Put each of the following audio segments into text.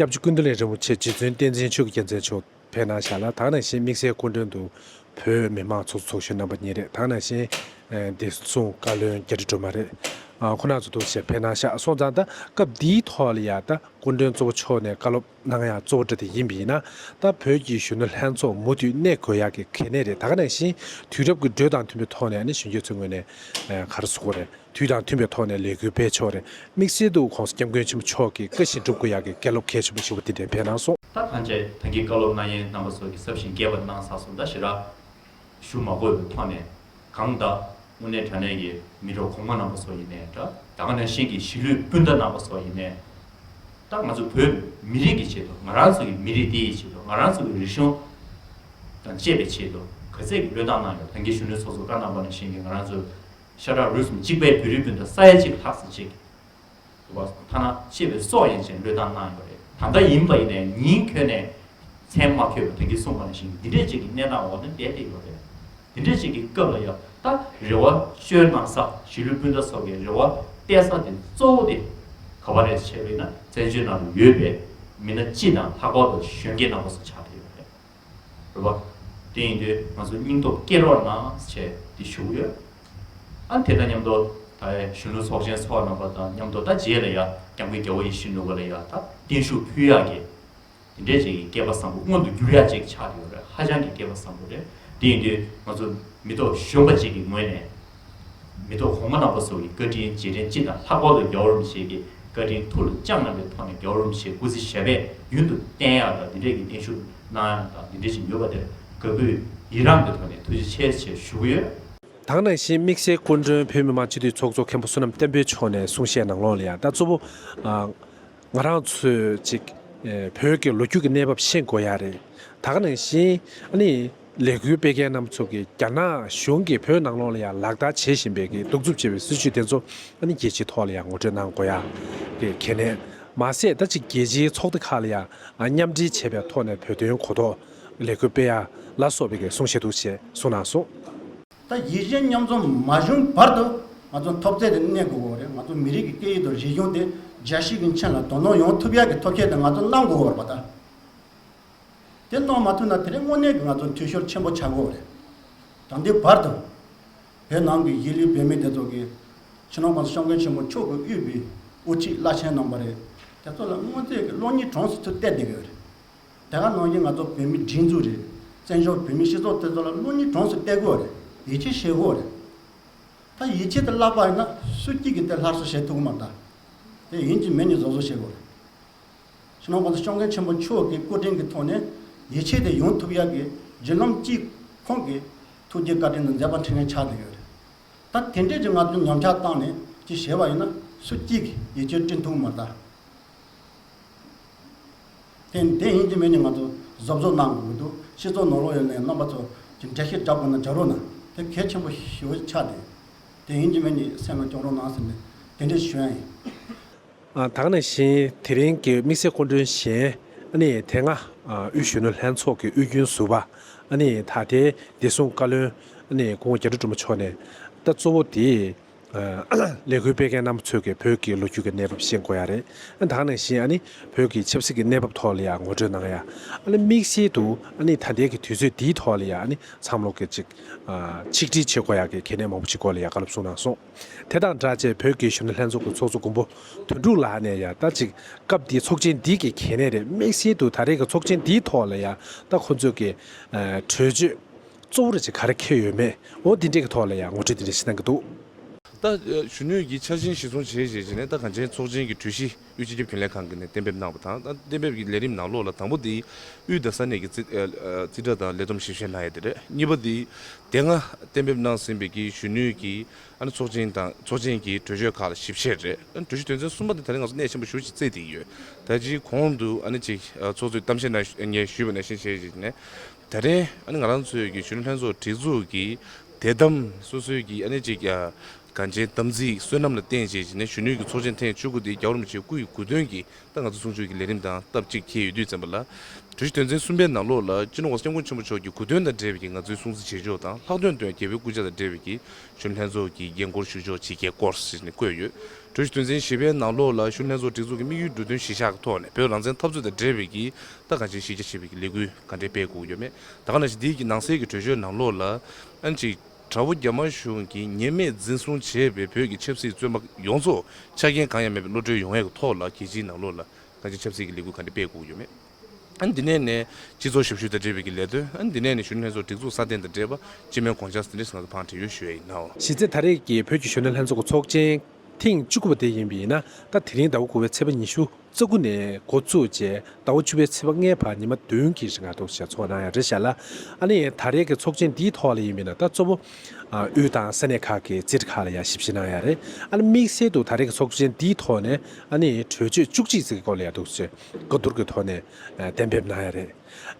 སྐྱབས་རྗེ་ཀུན་ཏུ་ལེགས་རིན་པོ་ཆེ་རྗེ་བཙུན་བསྟན་འཛིན་ཆོས་ཀྱི་རྒྱལ་མཚན་མཆོག་བོད་ནང་ཞལ་ལག་དྭགས་ནང་བཞིན་དམིགས་བསལ་སྐུ་མགྲོན་དུ་བོད་མི་མང་ཚོགས་ཚོགས་གཞོན་རྣམ་པ་གཉིས་རེ་དྭགས་ནང་བཞིན་བདེ་སྲུང་བཀའ་བློན་རྒྱ་རི་སྒྲོལ་མ་རེ་ཁོ་ན་ཚོ་འདུག་ཞེས་བོད་ནང་ཤག་སོང་ཙང་ད་སྐབས་འདིའི་ཐོག་ལ་ཡང་ད་སྐུ་མགྲོན་གཙོ་བོ་མཆོག་ནས་བཀའ་སློབ་གནང་ཡག་གཙོ་བོ་འདྲ་དེ་ཡིན་པ་ཡིན་ན་ད་བོད་ཀྱི་གཞོན་ནུ་ལྷན་ཚོགས་མུ་མཐུད་གནས་དགོས་ཡག་གི་གལ་གནད་རེད་དྭགས་ནང་བཞིན་དུས་རབས་ཀྱི་འགྲོས་དང་མཐུན་པའི་ཐོག་ནས་གཞོན་སྐྱེས་ཚོའི་ངོས་ནས་གར་སོང་རེད། དུས་དང་མཐུན་པའི་ཐོག་ནས་ལས་འགུལ་སྤེལ་ཕྱོགས་རེ་དམིགས་བསལ་འདུག་ཁོང་སྐྱབས་མགོན་ཆེན་པོ་མཆོག་གིས་བཀའ་བཞིན་སྒྲུབ་དགོས་ཡག་གི་སྐད་སློབ་གལ་ཆེན་པོ་ཞིག་བ་འདི་འགྲེམས་སྤེལ་གནང་སོང། ལྷ་ཐང་བཅས་ཐང་གི་བཀའ་སློབ་གནང་ཡན་རྣམ་པ་སོགས་ཀྱི་སྲབ་ཞིང་རྒྱས་པར་གནང་ས་སོ་ད་ཞི་རག་ཞུ་མ་དགོས་པའི་ཐོག་ནས་གང་བདག་དབུ་ནེ་དྲ་གནས་ཀྱི་མི་གྲོགས་གོང་མ་རྣམ་པ་སོགས་ཡིན་ནས་འདྲ། ད་ག་ནང་བཞིན་གྱི་གཞིས་ལུས་སྤུན་ཟླ་རྣམ་པ་སོགས་ཡིན་ནས་འདྲ་ང་ཚོ་བོད་མི་རིགས་ཀྱི་ཆེད་དུ་ང་རང་ཚོ་ཡི་མི་རིགས་འདི་ཡི་ཆེད་དུ་ང་རང་ཚོ་གི་རིག་གཞུང་དང་བཅས་པའི་ཆེད་དུ་ག་ཚད་ཀྱི་བློས་བཏང་གནང་ཡོད་ཐང་གི་གཞོན་ནུ་ཚོགས་གཙོ་བཀའ་གནང་པ་ནང་བཞིན་གྱི་ང་རང་ཚོ་ཤ་ཁྲག་རུས་མི་གཅིག་པའི་བོད་རིགས་སྤུན་ཟླ་ས་ཡ་གཅིག་ལྷག་ཟིན་བྱེད་ཀྱི་འདུག་པ། ཐ་ན་གཅེས་པའི་སྲོག་ཡན་ཆད་བློས་བཏང་གནང་ཡོད་པ་རེད། ད་ལྟ་ཡིན་པ་ཡིན་ནའི་ཉིན་ཁྱོན་ནས་མཚན་མ་འཁྱོལ་བའི་དོན་གྱིས་གསུངས་པ་ནས་བཞིན་འདི་འདྲའི་ཅིག་གི་གནས་སྟངས་འོག་ནས་བསྡད་དེ་ཡོད་པས། འདི་འདྲའི་ཅིག་གི་སྐབས་ལ་ཡང་ད་རེ་བ་བཅོལ་གནང་ས་གཞིས་ལུས་སྤུན་ཟླ་སོ་གའི་རེ་བ་གཏད་ས་དེ་གཙོ་བོ་དེ་ག་བ་རེད་ཟེར་བས་ན་བཙན་བྱོལ་ནང་དུ་ཡོད་པའི་མི་སྣ་སྤྱི་དང་ལྷག་པར་དུ་གཞོན་སྐྱེས་རྣམ་པ་སོགས་ཆགས་བསྡད་ཡོད་པ་རེད། རེད་བ། དེ་ཡིན་དུས་ང་ཚོ་སྙིང་སྟོབས་སྐྱེད་རོགས་གནང་བྱས་ཏེ་ཞུ་གི་ཡོད། ཨ་དེ་དང་མཉམ་དུ་ད་ཡའི་གཞོན་ནུ་ཚོགས་ཆེན་ཚོགས་གནང་པ་དང་མཉམ་དུ་ད་རྗེས་ལ་ཡ་རྒྱང་གི་རྒྱལ་བོ་ཡེ་ཤེས་ནུ་བོ་ལ་ཡ་ད་བརྟན་བཞུགས་ཕུལ་ཡག་གི། དེ་འདྲའི་ཅིག་སྐྱེས་པ་བཟང་པོ་མངོན་དུ་འགྱུར་ཡག་ཅིག་ཆགས་ཀྱི་ཡོད་རེད་ཧ་ཅང་གི་སྐྱེས་པ་བཟང་པོ་རེད་དེ་ཡིན་དུས་ང་ཚོ་མི་ཐོག་གཞོན་པ་ཅིག་གི་ངོས་ནས། མེ་ཏོག་གོང་མ་ནག་པོ་སོགས་ཀྱི་བཀའ་དྲིན་རྗེས་དྲན་སྤྱི་དང་ལྷག་པར་དུ་རྒྱ་བོར་རུ་ཤེལ་གྱི་བཀའ་དྲིན་ཐུགས་ལ་བཅངས་རྣམ་པའི་ཐོག་ནས་རྒྱ་བོར་རུ་ཤེལ་སྐུ་ཚེ་ཞབས་པད་རྒྱུན་དུ་བརྟན་ཡག་དང་འདི་འདྲས་ཀྱི་བརྟན་བཞུགས་གནང་ཡག་དང་འདི་འདྲས་ཅིག་ཡོད་པ་དེར་དགའ་གུས་ཡི་རངས་ཀྱི་ཐོག་ནས་ཐུགས་རྗེ་ཆེ་ཆེ་ཞུ་གི་ཡོད། དང་ནང་བཞིན་དམིགས་བསལ་སྐུ་མགྲོན་བོད་མི་མང་སྤྱི་འཐུས་ཚོགས་གཙོ་མཁན་པོ་བསོད་ནམས་བསྟན་འཕེལ་མཆོག་ནས་གསུང་བཤད་གནང་ལོང་ལ་ཡང་ད་གཙོ་བོ། ང་རང་ཚོས་ཅིག་བོད་ཀྱི་ལོ་རྒྱུས་ཀྱི་གནས་བབ་ཤེས་དགོས་ཡ་རེད་དག་ནང་བཞིན་ནི་ལས་འགུལ་སྤེལ་མཁན་རྣམས་ཚོ་གི་རྒྱ་ནག་གཞུང་གི་བོད་ནང་ལོག་ལ་ཡ་ལག་བརྡ་བྱེད་བཞིན་པའི་གི་གདུག་རྩུབ་ཆེ་བའི་སྲིད་བྱུས་དེ་ཚོ་ཨ་ནི་རྒྱལ་སྤྱིའི་ཐོག་ལ་ཡ་ངོ་སྤྲོད་གནང་དགོས་ཡ་གི་གལ་གནད་མ་ཟད་ད་ཅིག་རྒྱལ་སྤྱིའི་ཚོགས་སྡེ་ཁག་ལ་ཡ་མཉམ་འབྲེལ་བྱས་པའི་ཐོག་ནས་བོད་དོན་གོ་རྟོགས་ལས་འགུལ་སྤེལ་ཡ་ལ་སོགས་པའི་གི་གསུང་བཤད་འདུག་ཅེས་གསུང་གནང་སོང། ད་རྒྱལ་སྤྱིའི་མཉམ་འཛོམས་མ་བྱུང་བར་དུ་ང་ཚོ་འཐོབ་རྩལ་དེ་གནས་དགོས་པ་རེད་ང་ཚོ་མི་རིགས་ཀྱི་སྐད་ཡིག་དང་རིག་གཞུང་དེ་རྒྱ་ཞིག་གི་མཆན་ལ་དོ་སྣང་ཡོང་ཐུབ་ཡག་གི་ཐོབ་ཁྱད་དེ་ང་ཚོ་གནང་དགོས་པ་རེད་དེ་གནང་མ་ཐུབ་ན་དེ་རིང་དངོས་གནས་ཀྱི་ང་ཚོ་འཐུས་ཤོར་ཆེན་པོ་ཆགས་དགོས་པ་རེད་ད་འདི་བར་དུ་བོད་ནང་གི་གཞིས་ལུས་བོད་མི་དེ་ཚོ་གི་ཕྱི་ནང་ཁོངས་སུ་ཤོག་མཁན་ཆེན་པོ་མཆོག་གི་དབུས་པའི་དབུ་ཁྲིད་བླ་ཆེན་གནང་པ་རེད་དེ་ཚོ་ལ་དངོས་རྫས་ཀྱི་གློག་བརྙན་གྲངས་སུ་ཚུད་བལྟས་བསྡད་ཡོད་རེད། དེ་ག་ནང་བཞིན་ང་ཚོ་བོད་མི་སྒྲིག་འཛུགས་རེད། བཙན་བྱོལ་བོད་མིའི་སྤྱི་ཚོགས་དེ་ཚོ་ལ་བློ་གཉིས་གྲོངས་སུ་གཏད་དགོས་རེད། ཡིད་ཆེས་བྱེད་དགོས་རེད། ད་ཡིད་ཆེས་དེ་བརླག་པ་ཡིན་ན་སུ་སྐྱིད་ཀྱི་དེ་ལྷར་གསོ་བྱེད་ཐུབ་ཀྱི་མ་རེད། དེ་ཡིན་གྱི་མེད་གཉིས་བཟོ་བཟོ་བྱེད་དགོས་རེད། ཕྱི་ནང་གོང་ས་སྐྱོང་མཁན་ཆེན་པོ་མཆོག་གི་བཀོད་དྲིན་གྱི་ཐོག་ནས་ཡིད་ཆེས་དེ་ཡོང་ཐུབ་ཡག་གི་བརྒྱུད་ལམ་གཅིག་ཁོང་གི་ཐུགས་རྗེ་བཀའ་དྲིན་དང་མཛད་པ་འཕྲིན་ལས་ཆགས་དགོས་ཡོད་རེད། ད་དེ་འདྲས་ཀྱི་ང་ཚོ་ཉམས་ཆགས་བཏང་ནས་ཅིག་བྱེད་པ་ཡིན་ན་སུ་སྐྱིད་ཀྱི་ཡིད་ཆེས་བཀྲིན་ཐུབ་ཀྱི་མ་རེད། དེ་ཡིན་དེ་མིན་ནི་ང་ཚོ་བཟོ་བཟོ་གནང་དགོས་ཀྱི་འདུག་སྤྱི་ཚོགས་ནང་ལོག་ཡོད་ནའི་རྣམ་པ་ཚོ་ཇི་འདྲ་ཞིག་བསྒྲགས་དགོས་ན་བསྒྲགས་རོགས་གནང་དེ་གལ་ཆེན་པོ་ཞིག་ཆགས་ཏེ། དེ་ཡིན་དེ་མིན་ནི་སེམས་ལ་སྐྱོགས་རོགས་གནང་ཟེར་ནས་དེ་འདྲའི་གཞོན་ཡིན། དག་ན་བཞིན་དེ་རིང་གི་དམིགས་བསལ་སྐུ་མགྲོན་གཞན། ནི་དེ་སྔ་དབུས་གཞོན་ནུ་ལྷན་ཚོགས་ཀྱི་དབུས་རྒྱུན་ཟུར་བ། ནི་ད་ལྟའི་བདེ་སྲུང་བཀའ་བློན། ནི་དགུང་བརྒྱ་དྲུག་གྲུབ་མ་མཆོག་ནས། ད་གཙོ་བོ་དེ། ལས་འགུལ་སྤེལ་མཁན་རྣམ་པ་ཚོས་ཀྱི་བོད་ཀྱི་ལོ་རྒྱུས་ཀྱི་གནས་བབ་ཤེས་དགོས་ཡ་རེད་དང་ནང་བཞིན་ཨཱ་ནི་བོད་ཀྱི་ཆབ་སྲིད་ཀྱི་གནས་བབ་ཐོག་ལ་ཡང་ངོ་སྤྲོད་གནང་ཡ། ཨཱ་ནི་དམིགས་བསལ་དུ་ཨཱ་ནི་ད་ལྟའི་ཀྱི་དུས་ཚོད་འདིའི་ཐོག་ལ་ཡང་ཨཱ་ནི་མཚམས་ལོག་གི་ཅིག་ཆིག་སྒྲིལ་བྱེད་དགོས་ཡ་གི་གལ་གནད་མང་པོ་ཞིག་སྐོར་ལ་ཡང་བཀའ་སློབ་གསུངས་གནང་སོང། དེ་དང་སྦྲགས་བཅས་བོད་ཀྱི་གཞོན་ནུ་ལྷན་ཚོགས་ཀྱི་ཚོགས་གཙོ་མགོན་པོ་དོན་འགྲུབ་ལགས་ནས་ཡང་ད་ཅིག་སྐབས་འདིའི་ཚོགས་ཆེན་འདི་ཀྱི་གལ་གནད་རེད་དམིགས་བསལ་དུ་ད་རེས་ཀྱི་ཚོགས་ཆེན་འདིའི་ཐོག་ལ་ཡང་ད་ཁོང་ཚོས་ཀྱི་གྲོས་ཆོད་གཙོ་བོར་ཅི་གར་ཁེལ་ཡོད་མེད་འོ་འདི་འདྲས་ཀྱི་ཐོག་ལ་ཡང་ངོ་སྤྲོད་འདི་འདྲས་བྱེད་གནང་གི་འདུག། ད་གཞོན་ནུས་ཀྱི་འཆར་ཅན་ཞིག་སྲུང་བྱེད་ཞེས་བྱས་ནས་ད་གངས་ཅན་ཚོགས་ཆེན་གྱི་གྲོས་གཞི་དབུས་སྤྱི་ཁྱབ་རྒྱུན་ལས་ཁང་གིས་ནས་གཏན་འབེབས་གནང་བ་དང་ད་གཏན་འབེབས་ཀྱི་ལས་རིམ་ནང་ལོགས་ལ་དང་པོ་དེ་དབུས་དང་ས་གནས་ཀྱི་རྩིས་ཁྲ་དང་ལས་བསྡོམས་ཞིབ་བཤེར་གནང་ཡས་དེ་རེད་གཉིས་པ་དེ་དེ་སྔ་གཏན་འབེབས་གནང་ཟིན་པའི་གི་གཞོན་ནུས་ཀྱི་ཚོགས་ཆེན་དང་ཚོགས་ཆེན་གྱི་གྲོས་ཆོད་ཁག་ལ་ཞིབ་བཤེར་རེད་གྲོས་གཞི་དོན་ཚན་གསུམ་པ་དེ་ད་རེས་ང་ཚོ་གནད་ཆེན་པོ་ཞུ་བྱེད་རྩིས་ཏེ་ཡོད་ད་ཅིའི་གོང་དུ་ཅིག་ཚོགས་གཙོས་གཏམ་བཤད་ནང་ངས་ཞུས་པ་ནས་བཞིན་བྱས་ཞེས་བྱས་ནས། དེ་རིང་ཨ་ནི་ང་རང་ཚོའི་གཞོན་ནུ་ལྷན་ཚོགས་སྒྲིག་འཛུགས་ཀྱི་དད་དམ་སོ་སོའི་གྱི་ཨ་ནི་གཅིག་གངས་ཅན་དམ་ཚིག་བསོད་ནམས་ལ་བརྟེན་བྱས་ཀྱི་ནས་གཞོན་ནུའི་གྱི་ཚོགས་ཆེན་ཐེངས་བཅུ་དགུ་དེ་རྒྱ་བོར་མི་ཆེ་དགུ་ཡི་གུ་དོན་གྱི་ཏང་ང་ཚོ་སྲུང་སྐྱོབ་ཀྱི་ལས་རིམ་དང་སྟབས་གཅིག་མཁས་ཡོད་དུས་བཙན་པོ་ལ་གྲོས་གཞི་དོན་ཚན་གསུམ་པའི་ནང་ལོགས་ལ་སྤྱི་ནོར་བ་སྐྱབས་མགོན་ཆེན་པོ་མཆོག་གྱི་གུ་དོན་དང་འབྲེལ་བའི་གྱི་ང་ཚོའི་སྲུང་བརྩི་བྱེད་ཕྱོགས་དང་ལྷག་དོན་དོན་རྒྱལ་པོའི་སྐུ་ཕྱྭ་དང་འབྲེལ་བའི་གྱི་གཞོན་ནུ་ལྷན་ཚོགས་ཀྱི་རྒྱན་སྐོར་ཞུ་ཕྱོགས་ཆེ་གེ་སྐོར་ཞེས་ནས་བཀོད་ཡོད། གྲོས་གཞི་དོན་ཚན་བཞི་པའི་ནང་ལོགས་ལ་གཞོན་ནུ་ལྷན་ཚོགས་སྒྲིག་འཛུགས་ཀྱི་དམིགས་ཡུལ་འབྲུ་དོན་བཞི་ཆ་གི་ཐོག་ནས་བོད་རང་བཙན་འཐབ་རྩོད་དང་འབྲེལ་བའི་གྱི་ལྟ་གང་ཅིའི་གཞི་རྒྱ་ཆེ་བའི་ལས་འགུལ་ག་འདྲའི་སྤེལ་དགོས་ཡོད་མེད་ད་ག་ན་ཞིག་འདིའི་ནང་གསེས་ཀྱི་བྲོས་བྱོལ་ནང་ལོགས་ལ་ཨང་ཅིག་དགྲ་བོ་རྒྱ་དམར་གཞུང་གིས་ཉེས་མེད་འཛིན་བཟུང་བྱས་པའི་བོད་ཀྱི་ཆབ་སྲིད་བཙོན་པ་ཡོངས་རྫོགས་ཆ་རྐྱེན་གང་ཡང་མེད་པའི་བློ་གྲོས་ཡོང་ཡས་ཀྱི་ཐོག་ལ་རྒྱལ་སྤྱིའི་ནང་ལོགས་ལ་གང་ཅིའི་ཆབ་སྲིད་ཀྱི་ལས་འགུལ་ག་འདྲའི་སྤེལ་དགོས་ཡོད་མེད་ཨང་འདི་ནས་ནས་སྤྱི་ཚོགས་ཞབས་ཞུ་དང་འབྲེལ་བའི་ཀྱི་ལས་དོན་ཨང་འདི་ནས་ནས་གཞོན་ནུ་ལྷན་ཚོགས་སྒྲིག་འཛུགས་སྲ་བརྟན་དང་འབྲེལ་བ་སྤྱི་མོས་དགོངས་འཆར་ཟིན་བྲིས་སུ་ང་ཚོ་ཕང་འབྲེལ་ཡོད་ཞུས་ཡས་ཡིན་ནའོ། གཞི་རྩའི་ད་རེས་ཀྱི་བོད་ཀྱི་གཞོན་ནུ་ལྷན་ཚོགས་ཀྱི་ཚོགས་ཆེན་ཐེངས་བཅུ་དགུ་པ་དེ་ཡིན་པས་ན་ད་དེ་རིང་ཟླ་བ་དགུ་བའི་ཚེས་པ་ཉི་ཤུ་རྩ་དགུ་ནས་འགོ་བཙུགས་རྗེས་ཟླ་བ་བཅུ་བའི་ཚེས་པ་ལྔའི་བར་ཉི་མ་བདུན་གྱི་རིང་ང་ཐུག་ཞལ་ཚོགས་གནང་ཡང་རེད་བཤད་ལ། ཨ་ནི་ད་རེས་ཀྱི་ཚོགས་ཆེན་འདིའི་ཐོག་ལ་ཡིན་མིན་ལ་ལྟ་གཙོ་བོ་དབུས་དང་ས་གནས་ཁག་གི་རྩེད་འགྲེལ་ཁག་ལ་ཡང་ཞིབ་བཤེར་གནང་ཡང་རེད། ཨ་ནི་དམིགས་བསལ་དུ་ད་རེས་ཀྱི་ཚོགས་ཆེན་འདིའི་ཐོག་ནས་ཨ་ནི་གྲོས་ཆོད་བཅུ་གཅིག་ཟེར་གྱི་སྐོར་ལ་ཡང་ཐུགས་རྗེ་བཀའ་བསྡུར་གྱི་ཐོག་ནས་གཏན་འབེབས་གནང་ཡང་རེད།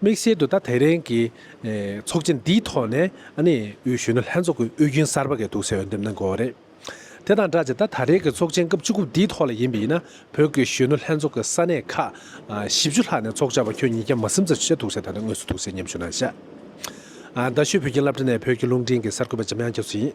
དམིགས་བསལ་དུ་ད་དེ་རིང་གི་ཚོགས་ཆེན་འདིའི་ཐོག་ནས་ཨ་ནི་དབུས་གཞོན་ནུ་ལྷན་ཚོགས་ཀྱི་དབུས་རྒྱུན་གསར་པ་འགས་ཐུགས་གསལ་འོས་འདེམས་གནང་དགོས་པ་རེད། དེ་དང་སྦྲགས་ཀྱི་ད་ད་རེས་ཀྱི་ཚོགས་ཆེན་སྐབས་བཅུ་དགུ་འདིའི་ཐོག་ལ་ཡིན་པས་ན་བོད་ཀྱི་གཞོན་ནུ་ལྷན་ཚོགས་ཀྱི་ས་གནས་ཁག་བཞི་བཅུ་ལྷག་ནས་ཚོགས་བཅར་བ་ཁྱོད་ཉིད་ཀྱང་མ་སེམས་ཚར་ཆུ་བྱ་དུག་བྱ་ད་ལྟ་དངོས་སུ་ཐུག་སའི་ཉམས་ཞུ་གནང་ཤག་ཨ། རྡ་ཤོད་བོད་ཁྱིམ་བླ་བྲེ་ནས་བོད་ཀྱི་རླུང་འཕྲིན་གྱི་གསར་འགོད་པ་འཇམ་དབྱངས་སྐྱབས་སུ་ཡིན།